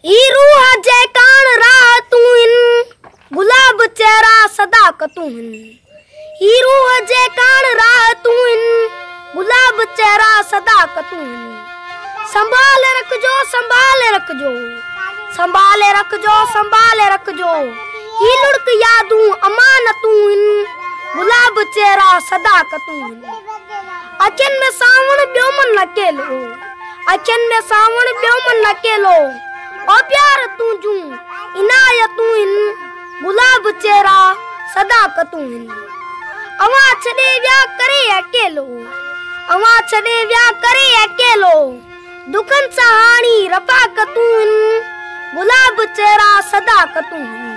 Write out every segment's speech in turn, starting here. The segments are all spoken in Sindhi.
هي روح جي ڪاڻ راحتون هن، گلاب چهرا صداقتون هن. هي روح جي ڪاڻ راحتون هن، گلاب چهرا صداقتون هن. سنڀال رکجو سنڀال رکجو، سنڀال رکجو سنڀال رکجو. هي لڙڪ يادون امانتون هن، گلاب چهرا صداقتون هن. اکين ۾ سانوڻ ٻيو من اڪيلو. اکين ۾ سانوڻ ٻيو من اڪيلو. او پيار تون جون عنايتون هن. گلاب چهرا صداقتون هن. اوهان ڇڏي ويا ڪري اڪيلو. اوهان ڇڏي ويا ڪري اڪيلو. دکن سان هاڻي رفاقتون هن. گلاب چهرا صداقتون هن.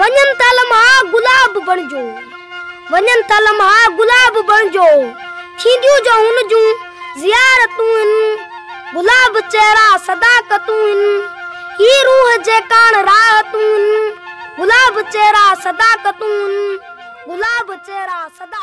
وڃن ٿا لمحا گلاب بڻجو وڃن ٿا لمحا گلاب بڻجو ٿينديون جو هن جون زيارتون ان گلاب چهرا صداقتون ان هي روح جي ڪاڻ راحتون ان گلاب چهرا صداقتون ان گلاب چهرا صداقتون